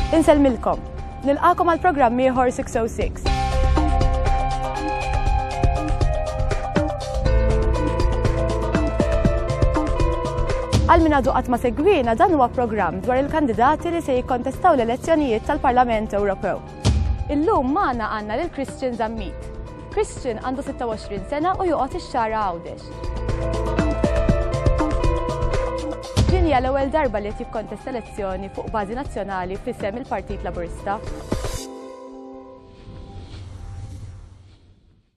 Inselmilkom. Nilqakom għal programm ieħor 606. Għal min għadu ma segwina dan huwa programm dwar il-kandidati li se jikkontestaw l-elezzjonijiet tal-Parlament Ewropew. Illum magħna għandna lil Christian Zammit. Christian għandu 26 sena u joqgħod ix-xara Għawdex. Din hija l-ewwel darba li qed jikkontesta elezzjoni fuq bażi nazzjonali f'isem il-Partit Laburista.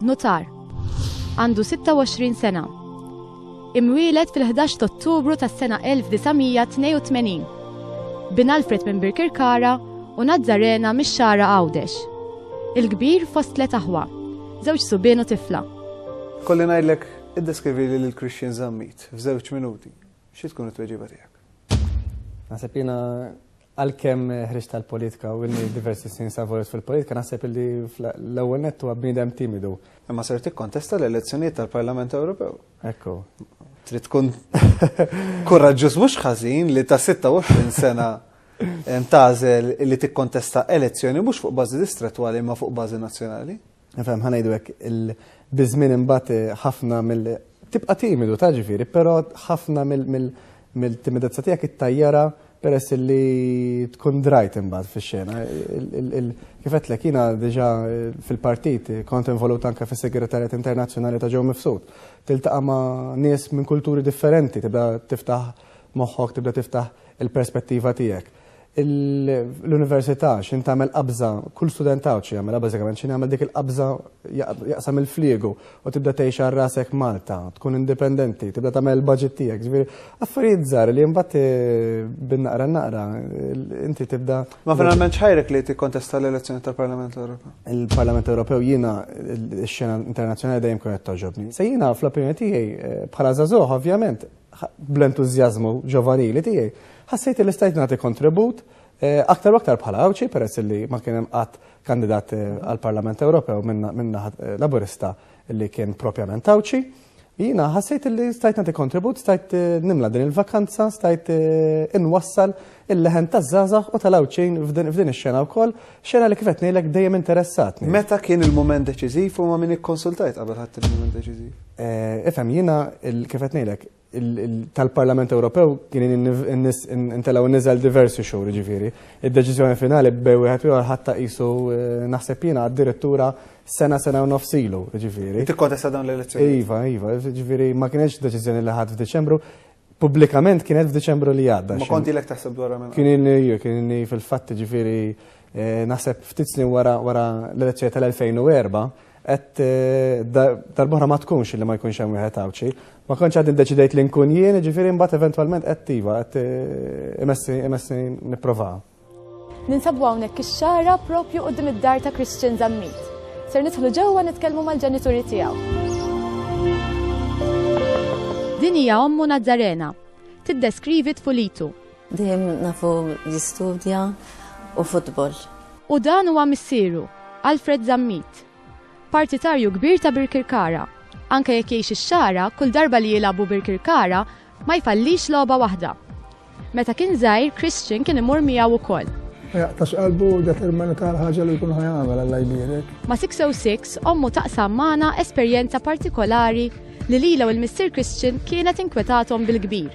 Nutar. Għandu 26 sena. Imwieled fil-11 ta' Ottubru tas-sena 1982. Bin Alfred minn Birkirkara u Nazzarena mix-Xara Għawdex. Il-kbir fost tliet aħwa, żewġ subien u tifla. Kolli ngħidlek, iddeskrivili lil Christian Zammit f'żewġ minuti. Xi tkun it-tweġiba tiegħek? Naħseb jiena Għalkemm ħriġt tal-politika u inni diversi snin savorit fil-politika naħseb li l-ewwel nett huwa bniedem timidu. Imma ser tikkontesta l-elezzjonijiet tal-Parlament Ewropew. Ekku. Trid tkun kuraġġuż mhux ħażin li ta' 26 sena tażel li tikkontesta elezzjoni mhux fuq bażi distrettwali imma fuq bażi nazzjonali. Nifhem ħanejdu hekk il-biżmien imbagħad eh, ħafna mill tibqa' timidu ta' ġifieri, però ħafna mill-timidezza tiegħek ittajjara peress li tkun drajt imbagħad fix-xena. Kif qedlek jiena diġà eh, fil-partit eh, kont involut anke fis-Segretarjat Internazzjonali ta' Ġew Mifsud. Tiltaqa' ma' nies minn kulturi differenti, tibda tiftaħ moħħok, tibda tiftaħ il-perspettiva tiegħek. l-università x'in tagħmel qabża, kull student għawċi jagħmel bażikament x'in jagħmel dik il-qabża jaqsam il-fliegu u tibda tgħix għal rasek Malta, tkun indipendenti, tibda tagħmel il-budget tiegħek, ġifieri affarijiet żgħar li mbagħad eh, bin-naqra naqra inti tibda. Ma finalment xħajrek li tikkontesta l-elezzjoni tal-Parlament Ewropew? Il-Parlament Ewropew jiena x-xena internazzjonali dejjem kienet toġobni. Se jiena fl-opinjoni tiegħi eh, bħala żagħżugħ ovvjament bl-entużjażmu ġovanili tiegħi, ħassejt li stajt nagħti kontribut aktar u aktar bħala Għawdxi peress li ma kien hemm qatt kandidat għall-Parlament Ewropew minn naħa Laburista li kien propjament Għawdxi. Jiena ħassejt li stajt nagħti kontribut, stajt nimla din il-vakanza, stajt inwassal Il-leħen taż-żgħażagħ u tal-Għawdxin f'din ix-xena wkoll, xena li kif qed ngħidlek dejjem interessatni. Meta kien il-mument deċiżiv u ma' min ikkonsultajt qabel ħadt il-mument deċiżiv? Eh, ifhem, jiena kif qed ngħidlek, tal-Parlament Ewropew kien intelgħu niżel diversi xhur ġifieri. Id-deċiżjoni finali bej wieħed ieħor ħadd qisu eh, naħseb jiena addirittura sena sena u nofsilu ġifieri. Tikkontesta dawn l-elezzjoni. Iva, iva, ġifieri ma kienx deċiżjoni li ħadd f'Diċembru. Pubblikament kienet f'Diċembru li għadda. Ma konti lek taħseb dwar minn. Kien inni, kien inni fil-fatt ġifiri eh, naħseb ftit snin wara wara l-elezzjoni tal-2004 qed eh, darbohra ma tkunx li ma jkunx hemm wieħed għawċi. Ma kontx għad indeċidejt li nkun jien, ġifieri mbagħad eventwalment qed tiva qed eh, imessi imessi nipprova. Ninsabu hawnhekk ix-xara propju quddiem id-dar ta' Christian Zammit. Ser nidħlu ġewwa nitkellmu mal-ġenituri tiegħu. Din hija ommu Nazzarena. Tiddeskrivi tfulitu. Dejjem nafu jistudja u futbol. U dan huwa missieru, Alfred Zammit. Partitarju kbir ta' Birkirkara. Anke jekk jgħix ix-xara, kull darba li jilagħbu Birkirkara, Ma jfallix logħba waħda. Meta kien żgħir, Christian kien imur miegħu wkoll. Jaqtax qalbu determina tal-ħaġa li jkun ħajamel għalla jbierek. Ma 606 ommu taqsam magħna esperjenza partikolari li lila u l-Mister Christian kienet inkwetatom bil-kbir.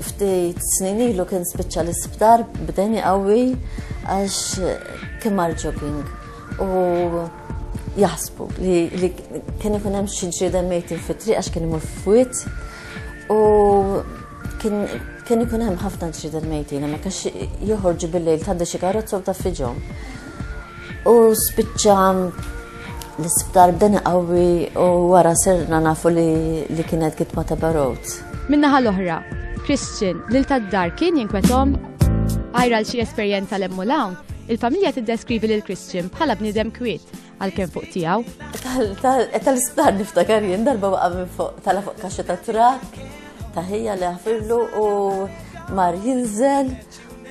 Ftit snin ilu kien spiċċa l-isptar b'deni qawwi għax kien marġoking u jaħsbu li kien ikun hemm xi ġrieden mejtin fit-triq għax kien imur fwit U kien ikun hemm ħafna ġrida l-mejtina, ma kax joħorġu bil-lejl tgħaddi xi karozza u taffiġhom. U spiċċa l-isptar bdeni qawwi u wara serna nafu li kienet kitma ta' barot. Minnaħa l-oħra, Christian, lil tad-dar kien jinkwetom għajra l xi esperjenza l-emmulawn, il-familja tiddeskrivi lil Christian bħala bniedem kwiet għalkemm fuq tiegħu. Tal-isptar niftakar jien darba waqa' minn fuq tala fuq kaxxa ta' trak taħija li ħafirlu u mar jinżel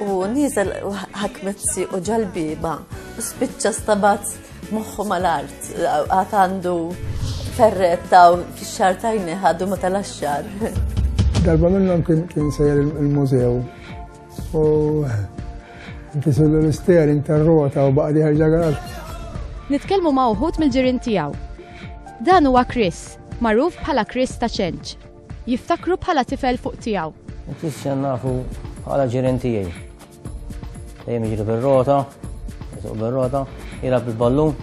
u niżel ħakmetzi u ġalbiba u spiċċa stabat moħħu mal-art għat għandu ferretta u fix-xar tajni ħadu ma tal-axxar. Darba minnhom kien sejjer il-mużew U inti sullu l-isteering tar-rota u baqdi ħarġa għal. Nitkellmu ma' uħud mill-ġirien tiegħu. Dan huwa Chris, magħruf bħala Chris ta' ċenċ. Jiftakru bħala tifel fuq tiegħu. Chris nafu bħala ġirien tiegħi. Dejjem jiġri bir-rota, jisuq bir-rota, jilgħab il-ballun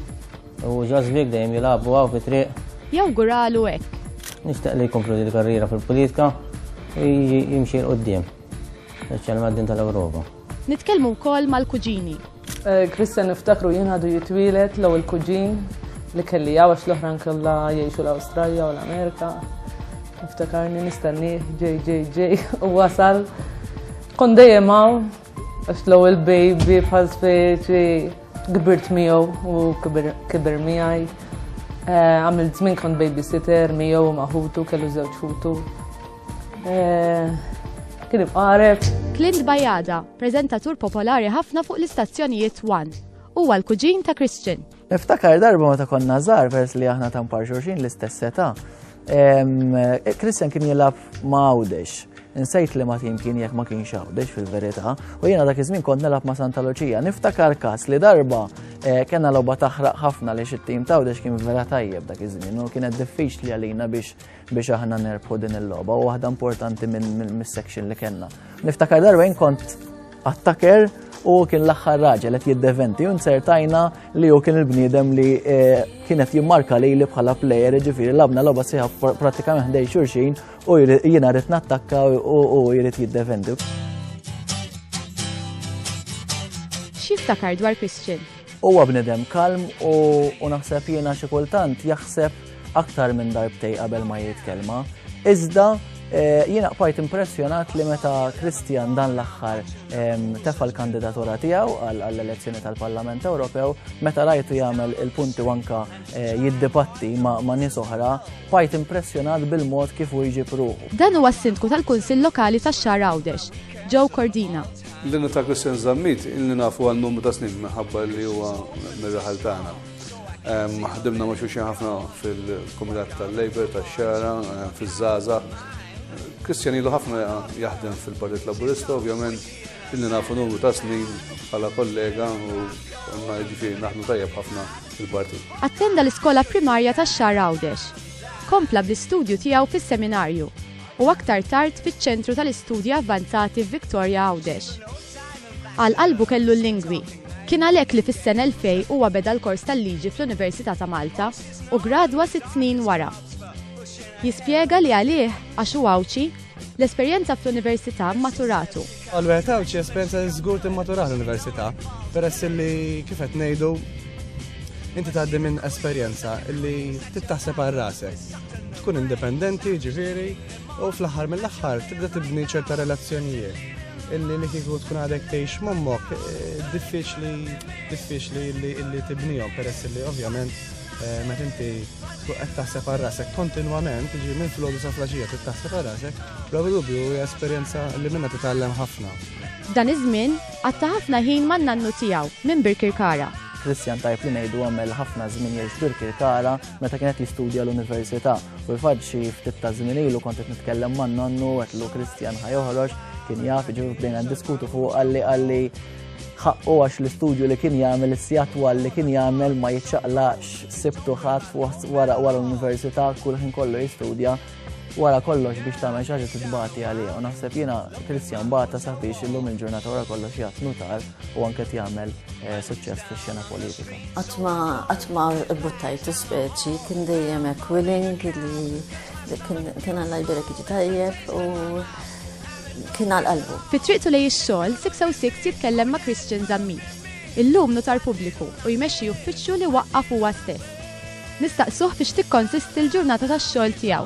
u ġażbik dejjem jilgħabu għaw fit-triq. Jew guralu hekk. Nixtaq li jkomplu l-karriera fil-politika jimxi l-qoddim. Speċjalment din tal-Ewropa. Nitkellmu wkoll mal-kuġini. Eh, Kristen niftakru jien għadu jitwielet l il-kuġin li kelli għawax l-oħran kollha jgħixu l-Awstralja u l-Amerika. Niftakarni nistenni ġej ġej ġej u wasal. Kon dejjem hawn għax l-ewwel baby bħal speċi kbirt miegħu u kibir miegħi. Eh, għamil żmien kont babysitter miegħu maħutu kellu żewġ ħutu. Eh, kien ibqareb. Clint Bajada, prezentatur popolari ħafna fuq l-istazzjonijiet One. Huwa l-kuġin ta' Christian. Niftakar darba meta konna żgħar vers li aħna ta' mpar xorxin l-istess età. Eh, Christian kien jilab ma' għawdex. Nsejt li ma' tim kien jekk ma' kien xawdex fil-verità. U jiena dak iż-żmien kont nilab ma' Santa Lucia. Niftakar kas li darba eh, kena logħba taħraq ħafna li xit-tim ta' għawdex kien vera tajjeb dak iż-żmien u kienet diffiċli għalina biex biex aħna nerbħu din il-logħba u waħda importanti mis-section li kellna. Niftakar darwejn kont attacker u kien l-aħħar raġel qed jiddeventi u nsertajna li hu kien il-bniedem li eh, kienet jimmarka li li bħala plejer ġifieri labna logħba siħa pratikament ħdej xurxin u jiena rrid nattakka u jrid jiddeventi. X'jiftakar dwar Christian? Huwa bnedem kalm u naħseb jiena xi kultant jaħseb aktar minn darbtej qabel ma jrid kelma, iżda eh, jiena qbajt impressjonat li meta Kristjan dan l-aħħar tefa l-kandidatura tiegħu għall-elezzjoni tal-Parlament Ewropew, meta rajtu jagħmel il-punti wanka eh, jiddibatti ma' nies oħra, bajt impressjonat bil-mod kif u jġib ruħu. Dan huwa s-sindku tal-Kunsill Lokali tax-Xar Għawdex, Joe Cordina. L-innu ta' Christian Zammit, il-li nafu għal numru ta' snin minħabba li huwa mir-raħal tagħna. Ħdimna ma' xulxin ħafna fil-Kumitat tal-Labor tax-Xara, fiż-Żaża. Kristjanilu ħafna jaħdem fil-Partit Laburista, ovvjament illi nafu numru ta' snin bħala kollega u għanna ġifiri naħdmu tajjeb ħafna fil-partit. Attenda l-iskola primarja ta' xar Għawdex. Kompla bl-istudju tiegħu fis-seminarju u aktar tard fiċ-ċentru tal-istudji avvanzati f'Viktoria Għawdex. Għal qalbu kellu l-lingwi. Kien għalhekk li fis-sena 2000 huwa beda l-kors tal-liġi fl-Università ta' Malta u ggradwa sitt snin wara. Jispjega li għalih, għax hu Għawdxi, l-esperjenza fl-Università mmaturatu. Għal wieħed Għawdxi esperjenza li żgur timmaturah l-Università, peress illi kif qed ngħidu inti tgħaddi minn esperjenza illi trid taħseb għal rasek. Tkun indipendenti, ġifieri, U fl-aħħar mill-aħħar tibda tibni ċerta relazzjonijiet illi li kieku tkun għadek tgħix mommok eh, diffiċli diffiċli illi tibnihom peress illi ovvjament eh, meta inti tkun qed taħseb għal rasek kontinwament, ġi minn flodu sa flaġija trid taħseb għal rasek, bla dubju hija esperjenza li minna titgħallem ħafna. F'dan iż-żmien għatta ħafna ħin man-nannu tiegħu minn Birkirkara. Kristjan tajb li ngħidu għamel ħafna żmien jgħix Birkirkara meta kienet jistudja l-università. U l-fatt xi ftit ta' żmien ilu kont qed nitkellem man nonnu għetlu Kristjan ħajoħroġ kien jaf iġifieri bdejna diskutu fuq għalli għalli ħaqqu għax l-istudju li kien jagħmel is-sijat twal li kien jagħmel ma jiċċaqlax sibtu ħadd wara wara l-università kull ħin kollu jistudja wara kollox biex tagħmel xi ħaġa titbati għaliha u naħseb jiena Kristjan bata sabiex illum il-ġurnata wara kollox jgħat nutar u anke jagħmel eh, suċċess fix-xena politika. Qatt ma qatt ma buttajt speċi kien dejjem hekk willing li kien għandha jbirek jiġi tajjeb u kien għal qalbu. Fi triqtu lej ix-xogħol 606 jitkellem ma' Christian Zammit. Illum nutar pubbliku u jmexxi uffiċċju li waqqaf huwa stess. Nistaqsuh biex tikkonsisti l-ġurnata tax-xogħol tiegħu.